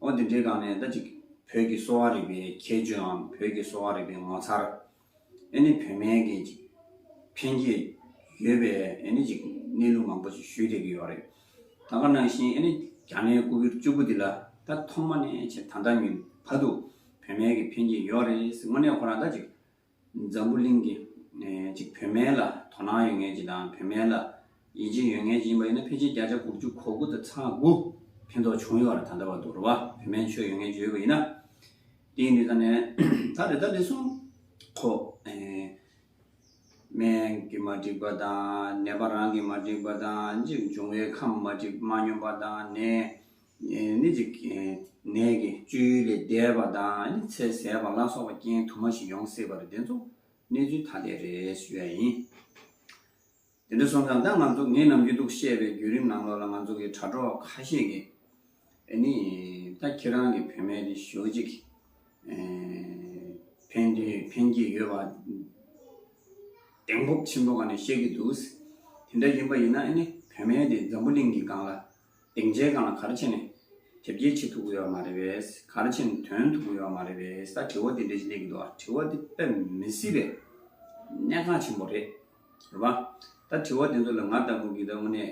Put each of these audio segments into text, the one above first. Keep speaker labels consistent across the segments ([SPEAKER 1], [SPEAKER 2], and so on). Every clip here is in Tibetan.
[SPEAKER 1] ཨོ་དེ་འདྲའི་སྒང་ནས་ད་ཅིག་བོད་ཀྱི་གསོ་བ་རིག་པའི་ཁྱད་ཆོསའམ་བོད་ཀྱི་གསོ་བ་རིག་པའི་ངོ་མཚར། ཨེ་ནི་བོད་སྨན་གྱི་ཅིག་ཕན་ཁྱད་ཡོད་པའི་ཨེ་ནི་ཅིག་གནས་ལུགས་མང་པོ་ཅིག་ཞུས་བསྡད་ཀྱི་ཡོད་རེད། ད་ག་ནང་བཞིན་ཨེ་ནི་རྒྱ་ནའི་སྐུ་བརྒྱུད་བཅུ་དགུ་འདི་ལ་ད་ཐོག་མ་ནས་ཕྱེད་ད་ལྟ་ཉིད་བར་དུ་བོད་སྨན་གྱི་ཕན་ཁྱད་ཡོད་རེད་ཟེར་དངོས་གནས་ཁོ་རང་ད་ཅིག་འཛམ་བུ་གླིང་གི་གཅིག་བུད་མེད་ལ་དོ་སྣང་ཡོད་ངེས་ཀྱི་དང་བུད་མེད་ལ་ཡིད་ཆེས་ཡོད་ངེས་ཀྱི་ཡིན་པ་ཡིན་ན་ཕལ་ཆེར་བརྒྱ་ཆ་དགུ་བཅུ་གོ་དགུ་དང་ཚ་དགུ་ཕན་ཐོགས་བྱུང་ཡོད་ར་ད་ལྟ་བར་དུ་ར་བ་བུད་མེད་ཆོས་ཡོད་ངེས་བརྗོད་ཡོད་པ་ཡིན་ན་དེའི་འདི་ད་ནས་ད་རེ་ད་རེ་སོང་ཁོ་སྨན་གྱི་མ་འགྲིག་པ་དང་ནད་པ་རང་གི་མ་འགྲིག་པ་དང་འཇིགས་འབྱུང་བའི་ཁམས་མ་འགྲིག་མ་སྙོམས་པ་དང་ནད་ནད་ཀྱི་བཅུད་ལས་འདས་པ་དང་ཚེ་ཟད་པ་ལ་སོགས་པ་རྐྱེན་དུ་མ་ཞིག་ཡོང་སྲིད་པ་རེད་དེ་ཚོ་གནས་ཚུལ་ཐ་དད་རེད་ཞུ་ཡ་ཡིན། དེ་འདྲ་སོང་ཙང་ད་ང་ཚོ་ངས་ནམ་རྒྱུན་ཐུགས་བཤད་པའི་བརྒྱུད་རིམ་ནང་ལོགས་ལ་ང་ཚོ་གི་དྲ་གྲོགས་ཁ་ཤས་ཀྱི་ནས་ད་ཁྱེད་རང་གི་བུད་མེད་དེ་ཞོ་གཅིག་ཕན་དོན་ཕན་གྱི་ཡོད་པ་གདེང་སྤོབས་ཆེན་པོ་ག་ནས་བཤད་ཀྱི་འདུག་དེ་འདྲ་ཡིན་པ་ཡིན་ན་བུད་མེད་དེ་འཛམ་བུ་གླིང་གི་སྒང་ལ་གདེང་ཆའི་སྒང་ལ་ག་རེ་བྱས་ནས། དེབ་སྐྱེལ་བྱེད་ཐུབ་དགོས་ཡོད་མ་རེད་བས། ག་རེ་བྱས་ནས་དོན་ཐུབ་དགོས་ཡོད་མ་རེད་བས་ད་དྲི་བ་དེ་འདྲས་ཀྱི་སླེབས་ཀྱི་འདུག་ཨ་རེ་དྲི་བ་དེ་དཔེ་མི་སྲིད་པའི་གནད་འགག་ཆེན་པོ་རེད། རེད་བ། ད་དྲི་བ་དེ་ཚོ་ལ་ང་ལྟ་བུ་འགིག་ད་དངོས་གནས་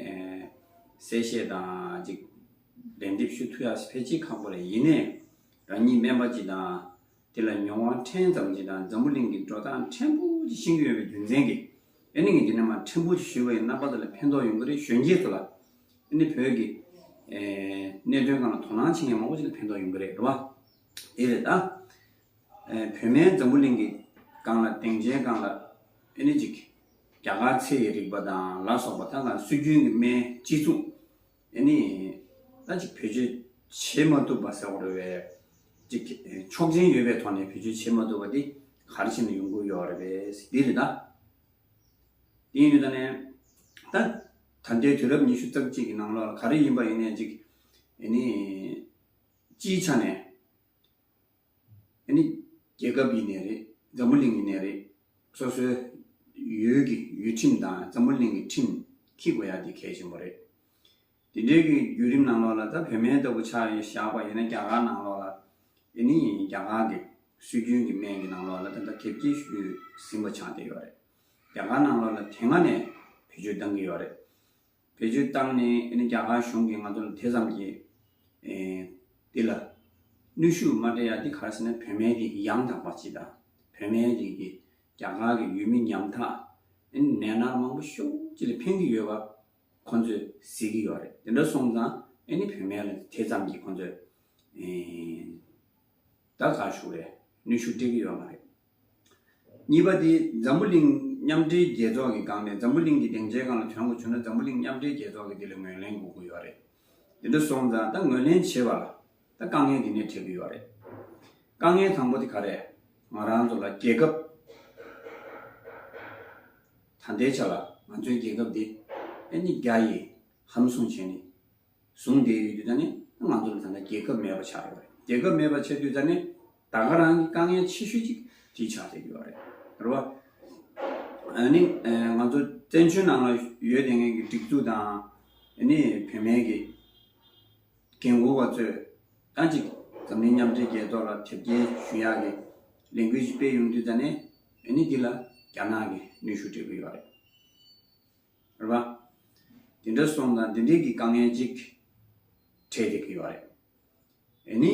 [SPEAKER 1] གསལ་བཤད་དང་གཅིག་ལན་འདེབས་ཞུ་ཐུབ་ཡག་ཕལ་ཆེ་ཁག་པོ་རེད་ཡིན་ནའི་རང་ཉིད་སྨན་པ་གཅིག་དང། དེ་ལ་མྱོང་བ་ཕྲན་ཙམ་གྱིས་དང་འཛམ་བུ་གླིང་གི་འགྲོ་སྟངས་ཕྲན་བུ་གྱིས་ཤེས་ཀྱི་ཡོད་པའི་རྒྱུ་མཚན་གྱིས་ཨེ་ནི་ངས་འདི་ནས་མ་ཕྲན་བུ་གྱིས་ཞུས་པ་ཡི་རྣམ་པ་དེ་ལ་ཕན་ཐོགས་ཡོང་གི་རེད་གཞོན་སྐྱེས་ཚོ་ལ་ཨེ་ནི་བོད་ཀྱི་གནད་དོན་གང་ལ་དོ་སྣང་བྱེད་མཁན་མང་པོ་ཅིག་ལ་ཕན་ཐོགས་ཡོང་གི་རེད་རེད་བ། དེ་རེད་ད། བོད་མའི་འཛམ་བུ་གླིང་གི་སྒང་ལ་དེང་ཆའི་སྒང་ལ་ཨེ་ནི་ཅིག་རྒྱ་གར་ཚེ་ཡི་རིག་པ་དང་ལ་སོགས་པ་ད་གང་སྲོལ་རྒྱུན་གྱི་སྨན་སྤྱི་ཚུགས་དེ་ནས་ད་ཅིག་བེད་སྤྱོད་བྱེད་མ་ཐུབ་པ་ཟེར་བ་རེད་བས། ཅིག་ཆོག་མཆན་ཡོད་པའི་ཐོག་ནས་བེད་སྤྱོད་བྱེད་མ་ཐུབ་པ་དེ་གར་ཕྱིན་ནས་ཡོང་དགོས་ཡོད་རེད་བས་དེ་རེད་ད། དེ་ཡིན་དུས་ད་ནས་ད་ད་ལྟའི་དུས་རབས་ཉི་ཤུ་རྩ་གཅིག་གི་ནང་ལོགས་ལ་ག་རེ་ཡིན་པ་ཡིན་ནས་ཅིག་ནས་སྤྱིའི་ཆ་ནས། ཨ་ནི་རྒྱལ་ཁབ་ཡིན་ནས་རེད། འཛམ་བུ་གླིང་ཡིན་ནས་རེད། སོ་སོའི་ཡུལ་གྱི་ཡུལ་ཁྲིམས་དང་འཛམ་བུ་གླིང་གི་ཁྲིམས་ཁྱི་དགོས་ཡག་འདི་གལ་ཆེན་པོ་རེད། དེ་འདྲའི་གི་རྒྱུད་རིམ་ནང་ལོགས་ལ་ད་བོད་སྨན་ལྟ་བུ་ཆགས་ཡོད་ཞག་པ་ཡིན་ན་རྒྱ་གར་ནང་ལོགས་ལ་ཨ་ནི་རྒྱ་གར་གི་སྲོལ་རྒྱུན་གྱི་སྨན་གྱི་ནང་ལོགས་ལ་ད་ད་དེབ་སྐྱེལ་ཞུས་ཟིན་པ་ཆགས་བསྡད་ཡོད་རེད། རྒྱ་གར་ནང་ལོགས་ལ་དེ་སྔ་ནས་བེད་སྤྱོད་བཏང་གི་ཡོད་རེད། བེད་སྤྱོད་བཏང་ནས་རྒྱ་གར་གཞུང་གིས་ང་ཚོ་ལ་དེ་ཙམ་གྱི་འདི་ལ་ནུས་ཤུགས་མ་སྤྲད་ཡ་འདི་ག་རེ་ཟེར་ན་བོད་མའི་རིགས་ཡང་དག་པ་སྤྱི་དང་བོད་མའི་རིགས་ཀྱི་རྒྱ་གར་གྱི་ཡུལ་མི་ཉམ་ཐག་ནད་མནར་མང་པོ་ཤུགས་ཅིག་ལ་འཕེན་གྱི་ཡོད་པ་ཁོ་ཚོས་གཟིགས་ཀྱི་ཡོད་རེད་དེ་འདྲ་སོང་ཙང་ནི་བོད་མའི་ལ་དེ་ཙམ་གྱི་ཁོ་ཚོས་དགའ་དགའ་ཤོས་རེད་ནུས་ཤུགས་སྤྲད་ཀྱི་ཡོད་མ་རེད། གཉིས་པ་དེ་འཛམ་བུ་གླིང་མཉམ་འབྲེལ་རྒྱལ་ཚོགས་ཀྱི་སྒང་ནས་འཛམ་བུ་གླིང་གི་སྡིངས་ཆའི་སྒང་ལ་དོན་གོ་ཆོད་ན་འཛམ་བུ་གླིང་མཉམ་འབྲེལ་རྒྱལ་ཚོགས་ཀྱིས་དེ་ལ་ངོས་ལེན་དགོས་ཀྱི་ཡོད་རེད། དེ་འདྲ་སོང་ཙང་ད་ངོས་ལེན་བྱེད་པ་ལ་ད་དཀའ་ངལ་དེ་ནས་འཕྲད་ཀྱི་ཡོད་རེད། དཀའ་ངལ་དང་པོ་དེ་ག་རེད། ང་རང་ཚོ་ལ་རྒྱལ་ཁབ་ད་ལྟའི་ཆ་ལ་ང་ཚོའི་རྒྱལ་ཁབ་དེ་ཨ་ནི་རྒྱ་ཡིན་ཧམ་བཟུང་བྱས་ནས་གཟུང་འདས་ཡོད་དུས་ད་ནི་ང་ཚོ་ལ་ད་ལྟ་རྒྱལ་ཁབ་མེད་པ་ཆགས་ཡོད་རེད་རྒྱལ་ཁབ་མེད་པ་ཆགས་དུས་ད་ནི་ད་ག་རང་གི་དཀའ་ངལ་ཆེ་ཤོས་ཅིག་དེ་ཆགས་བསྡད་ཡོད་རེད་རེད་བ། ཨ་ནི་ང་ཚོ་བཙན་བྱོལ་ནང་ལ་ཡོད་དེ་ངན་གྱི་སྒྲིག་འཛུགས་དང་ཨ་ནི་བུད་མེད་ཀྱི་རྒན་བཀུར་བ་ཚོས་ད་ཅིག་འཛམ་གླིང་མཉམ་འབྲེལ་རྒྱལ་ཚོགས་ལ་དེབ་སྐྱེལ་ཞུ་ཡག་གི་ལས་འགུལ་ཞིག་སྤེལ་ཡོང་དུས་ད་ནི་ཨ་ནི་འདི་ལ་རྒྱ་ནག་གི་ནུས་ཤུགས་སྤྲད་ཀྱི་ཡོད་རེད། རེད་པ། དེ་འདྲ་སོང་ན་འདི་འདྲིག་གི་དཀའ་ངལ་ཅིག་འཕྲད་ཀྱི་ཡོད་རེད། ཨེ་ནི།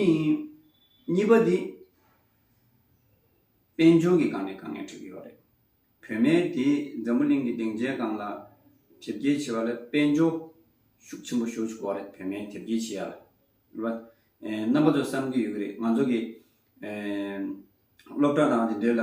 [SPEAKER 1] གཉིས་པ་འདི། དཔལ་འབྱོར་གྱི་སྒང་ནས་དཀའ་ངལ་འཕྲད་ཀྱི་ཡོད་རེད། བོད་མའི་དེ་འཛམ་བུ་གླིང་གི་སྡིངས་ཆའི་སྒང་ལ་དེབ་སྐྱེལ་བྱེད་པ་ལ་དཔལ་འབྱོར་ཤུགས་ཆེན་པོ་ཞོག་ཆོག་གོ་རེད་བོད་མའི་དེབ་སྐྱེལ་བྱེད་ཡ་ལ། རེད་པ། རྣམ་པ་ཚོ་བསམ་གྱི་ཡོད་ཀྱི་རེད་ང་ཚོ་གི། སློབ་གྲྭ་དང་དེ་འདྲའི་ལ་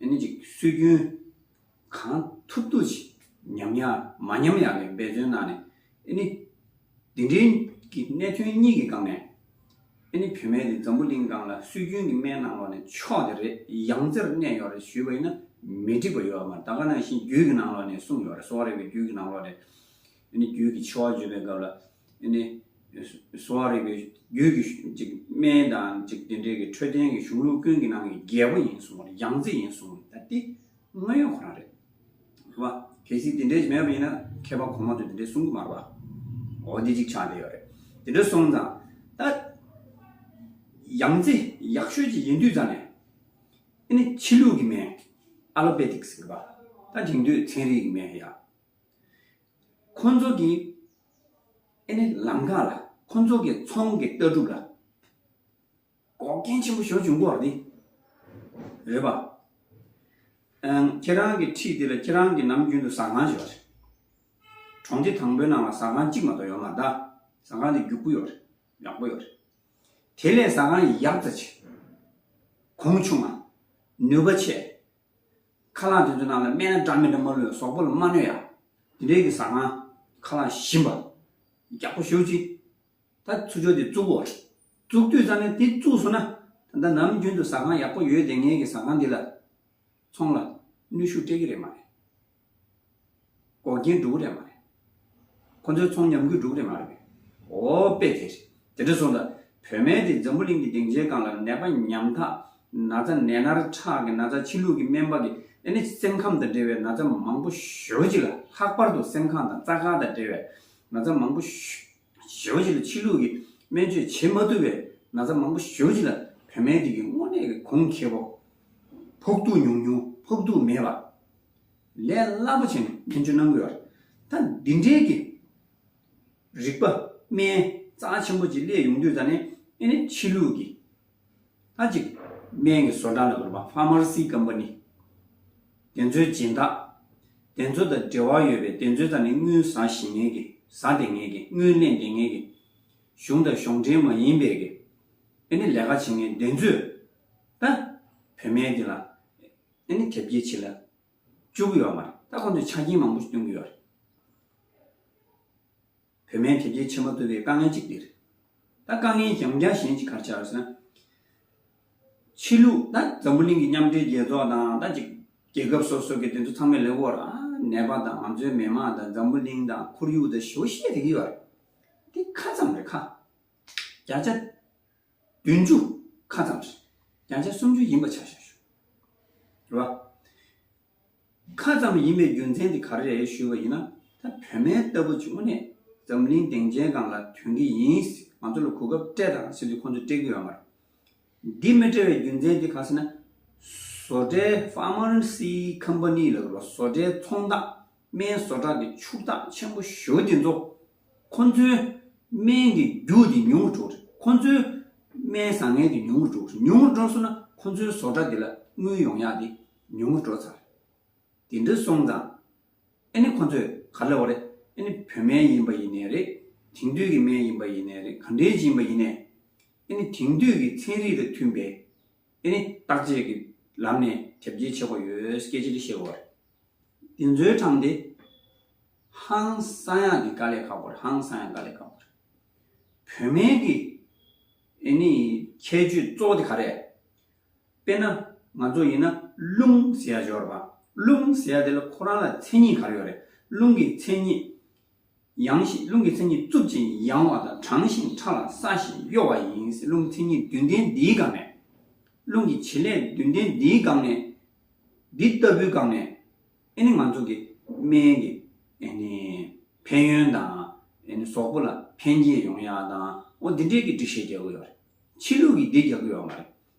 [SPEAKER 1] ཡང་ནི་ཅིག། སྲོལ་རྒྱུན། གང་ཐུབ་ཐུབ་ཅིག་ཉམས་ཡ་མ་ཉམས་ཡ་ལས་འབད་བརྩོན་གནང་ནས། ཨེ་ནི། འདི་འདྲའི་གི་གནད་དོན་གཉིས་ཀྱི་སྒང་ནས། ཨེ་ནི་བུད་མེད་དེ་འཛམ་བུ་གླིང་སྒང་ལ་སྲོལ་རྒྱུན་གྱི་སྨན་གནང་ལོག་ནས་ཆོག་དེ་རེད་ཡང་རྩེར་གནས་ཡོག་རེད་ཞུས་པ་ཡིན་ན་མི་འགྲིག་པ་ཡོད་མ་རེད་ད་ག་ནང་བཞིན་རྒྱུད་ཀྱི་ནང་ལོག་ནས་གསུངས་ཡོག་རེད་སོག་རེ་བའི་རྒྱུད་ཀྱི་ནང་ལོག་ནས། རྒྱུད་ཀྱི་ཆེ་བ་བརྗོད་པའི་སྐབས་ལ། གསོ་བ་རིག་པའི་རྒྱུད་ཀྱི་སྨན་དང་དེ་འབྲེལ་གྱི་འཕྲོད་བསྟེན་གྱི་གཞུང་ལུགས་ཀུན་གྱི་ནང་གི་རྒྱལ་པོ་ཡིན་གསུང་བ་ལ་ཡང་རྩེ་ཡིན་གསུང་བ་ལྟ་སྟེ། དངོས་ཡོད་ཁོ་རང་རེད། ཟེར་བ། གལ་སྲིད་དེ་འདྲའི་ཞིག་མེད་པ་ཡིན་ན་མཁས་པ་གོང་མ་ཚོས་དེ་འདྲའི་གསུང་གི་མ་རེད་པ། འོ་དེ་ཅིག་ཆ་དེ་ཡོད་རེད། དེ་འདྲ་སོང་ཙང། ད། ཡང་རྩེ་ཡག་ཤོས་ཅིག་ཡིན་དུས་ཙང་ནས། ཕྱི་ལུགས་ཀྱི་སྨན། Allopathic། ཟེར་བ། ད་དེང་དུས་ཚན་རིག་གི་སྨན་ཡ། ཁོ་ཚོ་གི་ཨེ་ནི་ལམ་ཁ་ལ་ཁོ་ཚོ་གི་ཚོང་གི་ལྟ་གྲུབ་ལ་འགོག་རྐྱེན་ཆེན་པོ་ཞོག་བྱུང་སྐོར་དེ་རེད་པ། ཁྱེད་རང་གི་འཁྲིས་དེ་ལ་ཁྱེད་རང་གི་ནམ་རྒྱུན་དུ་ཟ་ཁང་ཞིག་ཡོད་རེད། གྲོང་སྡེ་དང་པོའི་ནང་ལ་ཟ་ཁང་གཅིག་མ་གཏོགས་ཡོད་མ་གདའ། ཟ་ཁང་དེ་རྒྱུག་པོ་ཡོད་རེད་ཡག་པོ་ཡོད་རེད། དེ་ལས་ཟ་ཁང་ཡག་རྩེ་ཆེ། གོང་ཆུང་མ། ནུས་པ་ཆེ། ཁ་རླངས་དེ་ཚོའི་ནང་ལ་སྨན་འདྲ་མི་འདྲ་མ་ལོས་ཟོག་པོ་ལ་མ་གནོད་ཡ། དེ་འདྲའི་གི་ཟ་ང། ཁ་རླངས་ཞིམ་པ། རྒྱག་པོ་ཞོ་གཅིག། ད་ཚུར་ཕྱོགས་དེ་བཙུག་གོ། བཙུག་དུས་ཙང་ནས་དེ་བཙུགས་སོང་ན། ད་ལྟ་ནམ་རྒྱུན་དུ་ཟ་ཁང་ཡག་པོ་ཡོད་དེ་ངའི་གི་ཟ་ཁང་འདི་ལ། ཚོང་ལ། ནུས་ཤུགས་སྤྲད་གི་རེད་མ་རེད། འགོག་རྐྱེན་སྒྲུག་རེད་མ་རེད། ཁོང་ཚོའི་ཚོང་ཉམས་རྒུད་སྒྲུག་རེད་མ་རེད། འོ་དཔེ་དེ་རེད། དེ་འདྲ་སོང་ད། བོད་སྨན་དེ་འཛམ་བུ་གླིང་གི་སྡིངས་ཆའི་སྒང་ལ་ནད་པ་ཉམས་ཐག། ན་ཚ་ནད་མནར་ཁྲག་གི་ན་ཚ་ཕྱི་ལུགས་ཀྱི་སྨན་པ་གི་ཨེ་ནི་སེམས་ཁམས་དང་འབྲེལ་བའི་ན་ཚ་མང་པོ་ཞོ་གཅིག་ལ་ལྷག་པར་དུ་སེམས་ཁམས་དང་རྩ་ཁ་དང་འབྲེལ་བའི་ན་ཚ་མང་པོ་ཞོ་གཅིག་ལ་ཕྱི་ལུགས་ཀྱི་སྨན་བཅོས་བྱེད་མ་ཐུབ་པའི་ན་ཚ་མང་པོ་ཞོ་གཅིག་ལ་བོད་སྨན་དེ་གི་དངོས་གནས་ཀྱི་གོང་ཁེ་བོ། ཕོག་ཐུག་ཉུང་ཉུང་ཕོག་ཐུག་མེད་པ། ལས་སླ་པོ་བྱས་ནས་སྨན་བཅོས་གནང་དགོས་པར་ད་འདི་འདྲའི་གི་རིག་པ་སྨན་རྩ་ཆེན་པོ་ཅིག་སླད་ཡོང་དུས་ད་ནི་ཨེ་ནི་ཕྱི་ལུགས་གི་ད་ཅིག་སྨན་གི་བཟོ་གྲྭ་ལ་བོར་བ Pharmacy Company དེ་ཚོའི་སྦྱིན་བདག་དེ་ཚོ་དང་འབྲེལ་བ་ཡོད་པའི་དེ་ཚོས་ད་ནི་དངུལ་བཟའ་ཞེས་ངེས་གི་བཟའ་དེ་ངེས་གི་དངུལ་གླེང་དེ་ངེས་གི་གཞུང་དང་གཞུང་འབྲེལ་མ་ཡིན་པའི་གི་ཨེ་ནི་ལས་ཀ་བྱེད་མཁན་དེ་ཚོས་ད་བོད་སྨན་འདི་ལ་དེ་ནི་དེབ་སྐྱེལ་བྱེད་ལ་བཅུག་གི་ཡོད་མ་རེད་ད་གོ་འདོད་ཆ་རྐྱེན་མང་པོ་ཞིག་སྟོན་གྱི་ཡོད་རེད། བོད་མའི་དེབ་སྐྱེལ་ཆེན་མོ་བཏུལ་བའི་དཀའ་ངལ་གཅིག་དེ་རེད། ད་དཀའ་ངལ་ཡང་བསྐྱར་གཞན་གཅིག་གར་ཆགས་སོན། ཕྱི་ལུགས་ད་འཛམ་བུ་གླིང་གི་མཉམ་འབྲེལ་རྒྱལ་ཚོགས་དང་ད་ཅིག་རྒྱལ་ཁབ་སོ་སོ་གི་དེ་ཚོ་ཚང་མས་ལེགས་པོ་ར་ནས་པ་དང་ང་ཚོའི་མི་དམངས་དང་འཛམ་བུ་གླིང་དང་ཁོར་ཡུག་དང་ཞེ་བོ་བཤད་དེ་གི་ཡོད་རེད། དེ་ཁ་ཙམ་རེད་ཁ། བརྒྱ་ཆ། བདུན་ཅུ་ཁ་ཙམ་རེད། རྒྱང་ཆ་སུམ་ཅུ་ཡིན་པ་ཆ་བཞག་ཞུ། རེད་བ། ཁ་ཙམ་ཡིན་པའི་རྒྱུ་མཚན་དེ་ག་རེ་རེད་ཞུས་པ་ཡིན་ན། ད་བོད་མའི་ལྟ་བུ་བྱུང་བ་ནས་འཛམ་གླིང་སྡིངས་ཆའི་སྒང་ལ་ཐོན་གི་ཡིན། ང་ཚོ་ལ་གོ་སྐབས་སྤྲད་དང་ཟེར་དུས་ཁོང་ཚོས་སྤྲད་ཀི་ཡོད་མ་རེད། འདི་མི་སྤྲད་བའི་རྒྱུ་མཚན་དེ་གང་ཟེར་ན། བཟོ་གྲྭའི Pharmacy Company ལ་བཟོ་གྲྭའི་ཚོང་རྟགས་སྨན་བཟོ་གྲྭ་གི་ཕྱུག་རྟགས་ཆེན་པོ་ཞོ་དེ་ཚོ་ཁོ་ཚོའི་སྨན་གྱི་རྒྱུ་དེ་ཉུང་ངུར་འགྲོ་རེད། ཁོ་ཚོའི་སྨན་བཟང་ངན་དེ་ཉུང་ངུར་འགྲོ་རེད། ཉུང་ངུར་འགྲོ་སོང་ན་ཁོ་ཚོའི་བཟོ་གྲྭ་དེ་ལ་དངུལ་ཡོང་ཡག་དེ་ཉུང་ངུར་འགྲོ་ཚར་རེད། དེ་འདྲ་སོང་ཙང། ཨ་ནི་ཁོ་ཚོས་ག་ལ་བ་རེད། ཨ་ནི་བོད་སྨན་ཡིན་པ་ཡིན་ནའི་རེད། དེང་དུས་ཀྱི་སྨན་ཡིན་པ་ཡིན་ནའི་རེད་ག་འདྲའི་ཅི་ཡིན་པ་ཡིན་ནའི། ཨ་ནི་དེང་དུས་ཀྱི་ཚན་རིག་དང་མཐུན་པའི། དེ་ནི་བརྟག་དཔྱད་ཀྱི་ལམ་ནས་ཁྱབ་རྒྱའི་ཆེ་བ་ཡོད་སྐད་ཅེས་བཤད་དགོས་པ་རེད། འདི་ཚོའི་གྲངས་དེ་ཧང་སང་ཡག་གི་དཀའ་ལས་ཁག་པོ་རེད་ཧང་སང་ཡག་དཀའ་ལས་ཁག་པོ་རེད། བོད་མིའི་གི་ཨེ་ནི་ཁྱད་ཆོས་གཙོ་བོ་དེ་ག་རེད། དཔེར་ན་ང་ཚོ་ཡིན་ན་རླུང་ཟེར་ཡ་འཇོག་རེད་པ། རླུང་ཟེར་ཡ་དེ་ལ་ཁོ་རང་ལ་མཚན་ཉིད་ག་རེ་ཡོད་རེད། རླུང་གི་མཚན་ཉིད་ཡང་ཞིག་རླུང་གི་མཚན་ཉིད་རྩུབ་ཅིང་ཡང་བ་དང་གྲང་ཞིང་ཕྲ་ལ་སྲ་ཞིང་གཡོ་བ་ཡིན། རླུང་མཚན་ཉིད་བདུན་ལྡན་འདིའི་སྒང་ནས། རླུང་གི་བྱེད་ལས་བདུན་ལྡན་འདིའི་སྒང་ནས། འདི་ལྟ་བུའི་སྒང་ནས། ཨེ་ནི་ང་ཚོ་གི་སྨན་གྱི། ཨེ་ནི། ཕན་ཡོན་དང། ཨེ་ནི་ཟོག་པོ་ལ་ཕན་རྒྱས་ཡོང་ཡག་དང། འོ་འདི་འདྲའི་གི་འགྲིག་བཤད་རྒྱག་གི་ཡོད་རེད། ཕྱི་ལུགས་ཀྱི་འདི་རྒྱག་གི་ཡོད་མ་རེད།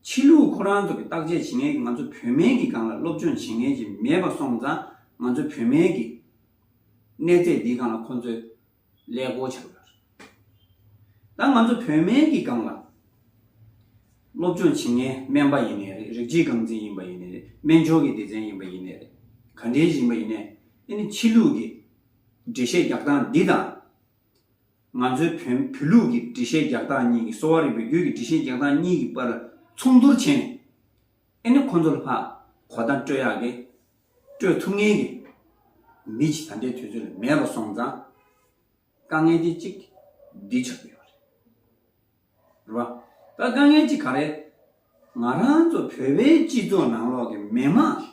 [SPEAKER 1] ཕྱི་ལུགས་ཁོ་རང་ཚོ་གི་བརྟག་དཔྱད་བྱེད་མཁན་གི་ང་ཚོ་བོད་མན་གི་སྒང་ལ་སློབ་སྦྱོང་བྱེད་མཁན་གྱི་མེད་པ་སོང་ཙང་ང་ཚོ་བོད་མན་གི་གནས་ཚད་འདིའི་སྒང་ལ་ཁོང་ཚོས་ཀླད་ཀོར་བྱ་དགོས་པ་རེད། ད་ང་ཚོ་བོད་མན་གི་སྒང་ལ་སློབ་སྦྱོང་བྱེད་མཁན་སྨན་པ་ཡིན་ནའི་རེད་རིགས་གཅིག་རྐང་འཛིན་ཡིན་པ་ཡིན་ནའི་རེད་སྨན་སྦྱོར་གི་སྡེ་ཚན་ཡིན་པ་ཡིན་ནའི་རེད་ག་འདྲའི་ཞིག་ཡིན་པ་ཡིན་ནའི་རེད་ཕྱི་ལུགས་གི་འགྲེལ་བཤད་རྒྱག་སྟངས་འདི་དང། ང་ཚོའི་བོན་བོད་ལུགས་ཀྱི་འགྲེལ་བཤད་རྒྱག་སྟངས་གཉིས་ཀྱི་གསོ་བ་རིག་པའི་རྒྱུད་ཀྱི་འགྲེལ་བཤད་རྒྱག་སྟངས་གཉིས་ཀྱི་དཔར་མཚུངས་བསྡུར་བྱས་ནས། ཨེ་ནི་ཁོ་ཚོ་ལ་ཧ་གོ་དང་སྤྲོད་ཡག་གི། སྤྲོད་ཐུབ་ངེས་ཀྱི། མི་གཅིག་ད་ལྟའི་དུས་ཚོད་ལ་མེད་པ་སོང་ཙང། དཀའ་ངལ་དེ་གཅིག་འདི་ཆགས་ཀྱི་ཡོད་རེད། རེད་བ། ད་དཀའ་ངལ་གཅིག་ག་རེད། ང་རང་ཚོ་བོད་པའི་སྤྱི་ཚོགས་ནང་ལོག་གི་མི་དམངས་ཀྱིས།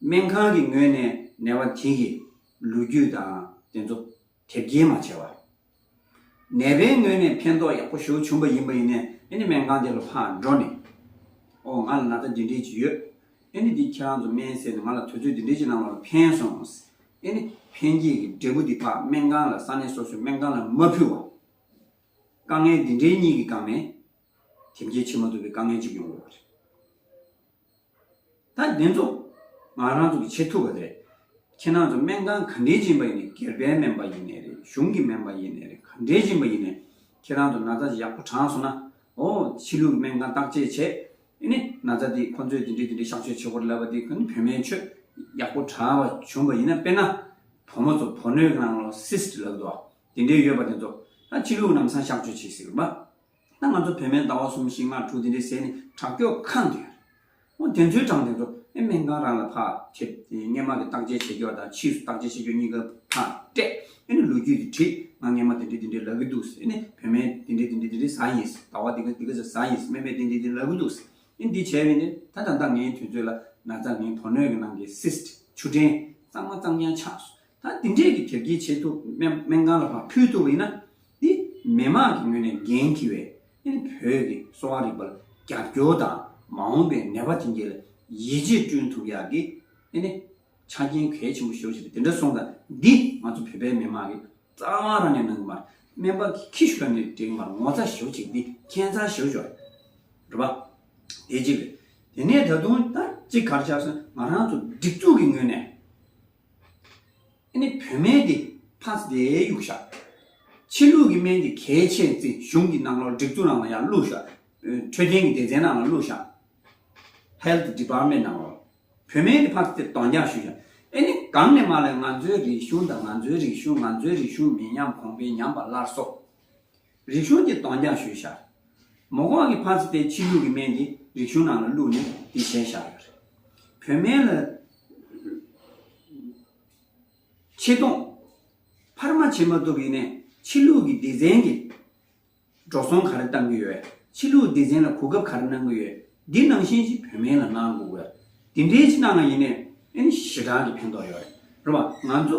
[SPEAKER 1] སྨན་ཁང་གི་ངོས་ནས་ནད་པ་དེ་གི་ལོ་རྒྱུས་དང་དེ་ཚོ་དེབ་སྐྱེལ་མ་བྱས་བར། ནད་པའི་ངོས་ནས་ཕན་ཐོགས་ཡག་པོ་ཞུ་བྱུང་པ་ཡིན་པ་ཡིན་ནས་ཨེ་ནི་སྨན་ཁང་དེ་ལ་ཕར་འགྲོ་ནས། ཨོ་ང་ལ་ན་ཚ་འདི་འདྲས་ཅིག་ཡོད། ཨེ་ནི་འདི་ཁྱེད་རང་ཚོ་སྨན་ཟེར་ནས་ང་ལ་དུས་ཚོད་འདི་འདྲས་ཅིག་གནང་བ་ལ་ཕན་སོང། ཨེ་ནི་ཕན་སྐྱེས་ཀྱི་འབྲས་བུ་འདི་ཕག་སྨན་ཁང་ལ་ས་གནས་སོ་སོའི་སྨན་ཁང་ལ་མ་ཕུལ་བར། དཀའ་ངལ་འདི་འདྲའི་གཉིས་ཀྱི་སྒང་ནས། དེབ་སྐྱེལ་བྱེད་མ་ཐུབ་པའི་དཀའ་ངལ་ཅིག་ཡོང་དགོས་པ་རེད། ད་འདི་ཚོ་ང་རང་ཚོ་གི་བྱེད་ཐུབ་པ་རེད། ཁྱེད་རང་ཚོ་སྨན་ཁང་ག་འདྲའི་སྦྱིན་པ་ཡིན་ནས་སྒེར་པའི་སྨན་པ་ཡིན་ནས་རེད་གཞུང་གི་སྨན་པ་ཡིན་ནས་རེད་ག་འདྲའི་སྦྱིན་པ་ཡིན་ནས་ཁྱེད་རང་ཚོ་ན་ཚ་ཡག་པོ་དྲངས་སོང་ན་ཨོ་ཕྱི་ལུགས་སྨན་ཁང་བརྟག་དཔྱད་བྱས་ཨེ་ནི་ན་ཚ་དེ་ཁོ་ཚོས་དེ་འདྲའི་དེ་འདྲའི་གཤག་བཅོས་བྱེད་དགོས་རེད་ལབ་པ་དེ་ཁོ་ནི་བོད་སྨན་ཆོས་ཡག་པོ་དྲངས་པ་བྱུང་བ་ཡིན་ན་དཔེར་ན་བུ་མོ་ཚོ་བུ་སྣོད་གི་ནང་ལོ་སིས་ལབ་འདུག་བ་དེ་འདྲའི་ཡོད་པ་དེ་ཚོ་ད་ཕྱི་ལུགས་ནམ་སང་གཤག་བཅོས་བྱེད་སྲིད་རུང་བ། ད་ང་ཚོ་བོད་སྨན་ཟླ་བ་གསུམ་བཞི་ལྔ་དྲུག་དེ་འདྲའི་ཟས་ནི་དྲག་སྐྱོག་ཁང་དུ་ཡོད། ཨོ་དེ་ཚོའི་གྲངས་དེ་ཚོ་ཨེ་སྨན་ཁང་རང་ལ་ཕར་ཁེབས་ཏེ་སྔས་མ་གི་བརྟག་དཔྱད་བྱེད་རྒྱུ་བ་དང་ཕྱིས་སུ་བརྟག་དཔྱད་བྱེད་རྒྱུ་གཉིས་ཀ་ཕར་སྤྲད་ཨེ་ནི་ལོ་རྒྱུས་དེ་བྲིས་ང་སྔས་མ་དེ་འདྲས་དེ་འདྲས་ལབ་གི་འདུག་ཟེར་ཨེ་ནི་བོད་སྨན་དེ་འདྲས་དེ་འདྲས་དེ་འདྲས་ཟ་ཡིན་ཟེར་ཟླ་བ་འདི་ག་འདི་ག་ཟེར་ཟ་ཡིན་ཟེར་སྨན་པས་དེ་འདྲས་དེ་ལབ་གི་འདུག་ཟེར་ཨེ་འདི་བྱས་པས་ནི་ད་ད་ལྟ་ངའི་དུས་ཚོད་ལ་ན་ཚ་ངའི་བུ་སྣོད་ཀྱི་ནང་གི Cyst ཆུ་ཕྲན་གཙང་མ་གཙང་རྐྱང་ཆགས་སོང། ད་དེ་འདྲས་ཀྱི་དེབ་སྐྱེལ་བྱེད་ཐུབ་སྨན་ཁང་ལ་ཁག་ཕུལ་ཐུབ་ཡིན་ན། དེ་མི་མང་གི་ངོས་ནས་འགན་འཁྱི་བས་ཨིན་བོད་ཀྱི་གསོ་བ་རིག་པར་རྒྱབ་སྐྱོར་དང་མ་འོངས་པའི་ནད་པ་དེ་འདྲས་ལ་ཡིད་ཆེས་བསྐྲུན་ཐུབ་ཡག་གི་ཨིན། ཆ་རྐྱེན་གལ་ཆེན་པོ་ཞོ་ཞེས་པ་དེ་འདྲ་སོང་ད་འདི་ང་ཚོ་བོད་པའི་མི་མང་གི་རྩ་བ་རང་ནས་གནང་གི་མར་སྨན་པ་གི་ཁྱི་ཞོ་ནས་འགྲིག་མར་ངོ་ཚ་ཞོ་ཅིག་འདི་ཁྱད་མཚར་ཞོ་ཞོ་རེད་པ། དེ་གཅིག་རེད། དེ་ནས་ད་དུང་ད་གཅིག་གར་ཆགས་སོང་ང་རང་ཚོ་སྒྲིག་འཛུགས་ཀྱི་ངོས་ནས། ཨེ་ནི་བོད་སྨན་དེ་ཕ་ཟླའི་ཡུག་ཤ། ཕྱི་ལུགས་ཀྱི་སྨན་དེ་གལ་ཆེ་རྩི་གཞུང་གི་ནང་ལོག་སྒྲིག་འཛུགས་ནང་ལ་ཡང་བླུགས་ཤ། འཕྲོད་བསྟེན་གྱི་སྡེ་ཚན་ནང་ལ་བླུགས་ཤ། Health Department ནང་ལ་བོད་སྨན་དེ་ཕ་ཟླ་དེ་གདོང་རྒྱག་ཞུས་ཤ། ཨེ་ནི་གང་ནས་མ་ལོས་ང་ཚོའི་རིག་གཞུང་དང་ང་ཚོའི་རིག་གཞུང་ང་ཚོའི་རིག་གཞུང་མི་ཉམས་གོང་འཕེལ་ཉམས་པ་སླར་གསོ། རིག་གཞུང་གི་གདོང་རྒྱག་ཞུས་བཞག་མོ་གོང་གི་ཕག་རྩི་དེ་ཕྱི་ལུགས་ཀྱི་སྨན་གྱི་རིག་གཞུང་ནང་ལ་བླུགས་ནས་དེ་བཞེས་བཞག་ཡོད་རེད། བོད་སྨན་ལ། ཆེ་མཐོང། འཕར་མ་བྱེད་མ་ཐུབ་ཡིན་ནས་ཕྱི་ལུགས་ཀྱི་སྡེ་ཚན་གྱི། འགྲོ་སོང་ག་རེ་བཏང་གི་ཡོད། ཕྱི་ལུགས་སྡེ་ཚན་ལ་གོ་སྐབས་ག་རེ་གནང་གི་ཡོད། འདི་ནང་བཞིན་ཅིག་བོད་སྨན་ལ་གནང་དགོས། དེ་འདྲའི་ཅིག་གནང་ཡིན་ནས་ཨེ་ནི་ཞེ་དྲག་གི་ཕན་ཐོགས་ཡོད་རེད། རེད་བ། ང་ཚོ་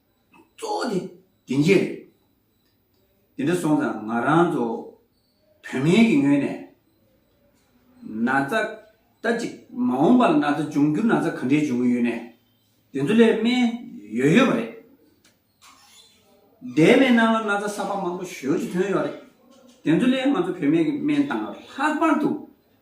[SPEAKER 1] གཙོ་བོ་དེ་དེང་རྗེས་རེད། དེ་འདྲ་སོང་ཙང་ང་རང་ཚོ་བོད་མིའི་གི་ངོས་ནས་ན་ཚ་ད་ཅིག་མ་འོངས་པ་ལ་ན་ཚ་འབྱུང་འགྱུར་ན་ཚ་ག་འདྲའི་འབྱུང་གི་ཡོད་ནས་དེ་ཚོ་ལས་སྨན་ཡོད་ཡོད་པ་རེད། འདས་པའི་ནང་ལ་ན་ཚ་གསར་པ་མང་པོ་ཞོལ་གྱི་ཐོན་ཡོད་རེད། དེ་ཚོ་ལས་ང་ཚོ་བོད་མིའི་གི་སྨན་བཏང་བ་ལྷག་པར་དུ་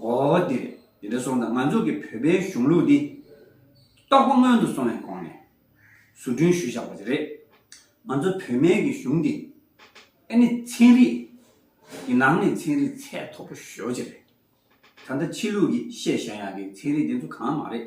[SPEAKER 1] འོ་དེ་རེད། དེ་འདྲ་སོང་ཙང་ང་ཚོ་གི་བོད་པའི་གཞུང་ལུགས་འདི། རྟོགས་པ་སྔོན་དུ་སོང་བའི་གོང་ནས། བཟོ་སྐྲུན་ཞུས་བཞག་པ་ཅིག་རེད། ང་ཚོ་བོད་སྨན་གི་གཞུང་འདི། ཨེ་ནི་ཚན་རིག་གི་ནང་ནས་ཚན་རིག་ཚད་མཐོ་པོ་ཞོ་ཅིག་རེད། ད་ལྟ་ཕྱི་ལུགས་ཀྱི་བཤད་བཞག་ཡག་གི་ཚན་རིག་དེ་ཚོ་གང་མ་རེད།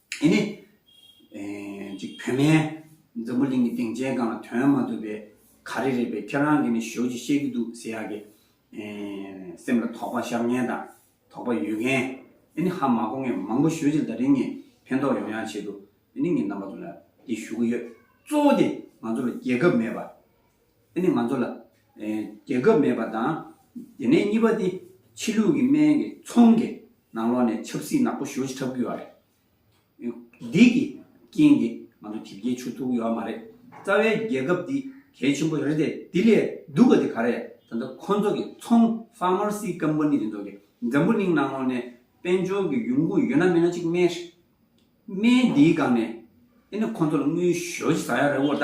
[SPEAKER 1] དེ་ནི། ཅིག་བུད་མེད་འཛམ་བུ་གླིང་གི་སྟེང་མཇལ་ཁང་ལ་དོན་མ་ཐུབ་པའི་ག་རེ་རེད་པས་ཁྱེད་རང་གིས་ནི་ཞོལ་གྱིས་བཤད་ཀྱི་འདུག་ཟེར་ཡག་གི། སེམས་ལ་དོགས་པ་ཤར་མཁན་དང་དོགས་པ་ཡོད་མཁན། དེ་ནི་ཧ་མ་གོ་མཁན་མང་པོ་ཞོལ་གྱིས་ད་རིང་ངས་ཕན་ཐོགས་ཡོང་ཡག་ཆེད་དུ་དེ་ནི་ངས་རྣམ་པ་ཚོ་ལ་འདི་ཞུ་གི་ཡོད། གཙོ་བོ་དེ་ང་ཚོ་ལ་རྒྱལ་ཁབ་མེད་པ། དེ་ནི་ང་ཚོ་ལ་རྒྱལ་ཁབ་མེད་པ་དང། དེ་ནས་གཉིས་པ་དེ་ཕྱི་ལུགས་ཀྱི་སྨན་གྱི་ཚོང་གི་ནང་ལོགས་ནས་ཆབ་སྲིད་ནག་པོ་ཞོ་ཆགས་ཀྱི་ཡོད་རེད། འདི་གི་རྐྱེན་གྱིས་ང་ཚོ་དེབ་སྐྱེལ་ཆུག་ཐུག་ཡོད་མ་རེད། རྩ་བའི་རྒྱལ་ཁབ་འདི་གལ་ཆེན་པོ་རེད་དེ་དེ་ལས་སྡུག་པ་དེ་ག་རེད་ད་ལྟ་ཁོ་ཚོ་གི་ཚོང Pharmacy Company དེ་ཚོ་གི་འཛམ་བུ་གླིང་ནང་ལོགས་ནས་དཔལ་འབྱོར་གྱི་ཡོང་ཁུངས་ཡོད་ན་མེད་ན་གཅིག་སྨན་རེད། སྨན་འདིའི་སྒང་ནས་དེ་ནི་ཁོ་ཚོ་ལ་དངུལ་ཞོ་ཆེ་ཟ་ཡག་རེད་བོ་ད།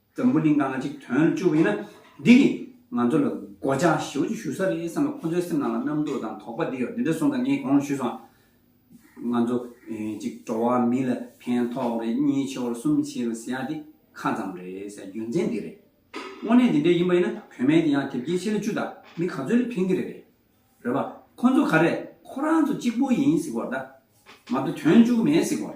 [SPEAKER 1] མགྲོན་པོ་ནི་ང་གཅིག་དོན་ལ་སྤྱོད་པ་ཡིན་ན་འདི་གིས་ང་ཚོ་ལ་སྒོ་ལྕགས་ཞེའུ་ཅིག་ཞུ་ས་རེད་བསམ་ལ་ཁོ་ཚོའི་སེམས་ནང་ལ་རྣམ་རྟོག་དང་དོགས་པ་འདི་ཡོད་འདི་འདྲ་གསུངས་དང་ངས་གོང་ལ་ཞུས་སོང། ང་ཚོ་གཅིག་འགྲོ་བ་མི་ལ་ཕན་ཐོགས་རེད་གཉིས་ཆེ་བར་གསུམ་བྱེད་རུ་ཟེར་ཡ་འདི་ཁ་ཙམ་རེད་ཟེར་རྒྱུ་མཚན་འདི་རེད། དངོས་གནས་འདི་འདྲ་ཡིན་པ་ཡིན་ན་བོད་མའི་དེ་ཡང་དེབ་སྐྱེལ་ཆེ་ལ་བཅུ་དང་མི་ག་ཚོད་ལ་ཕན་གི་རེད། རེད་པ། ཁོ་ཚོ་ག་རེ་ཁོ་རང་ཚོ་གཅིག་པོ་ཡིན་ཟིག་བར་ད། མ་གཏོགས་དོན་བཅུག་མེད་ཟིག་བར།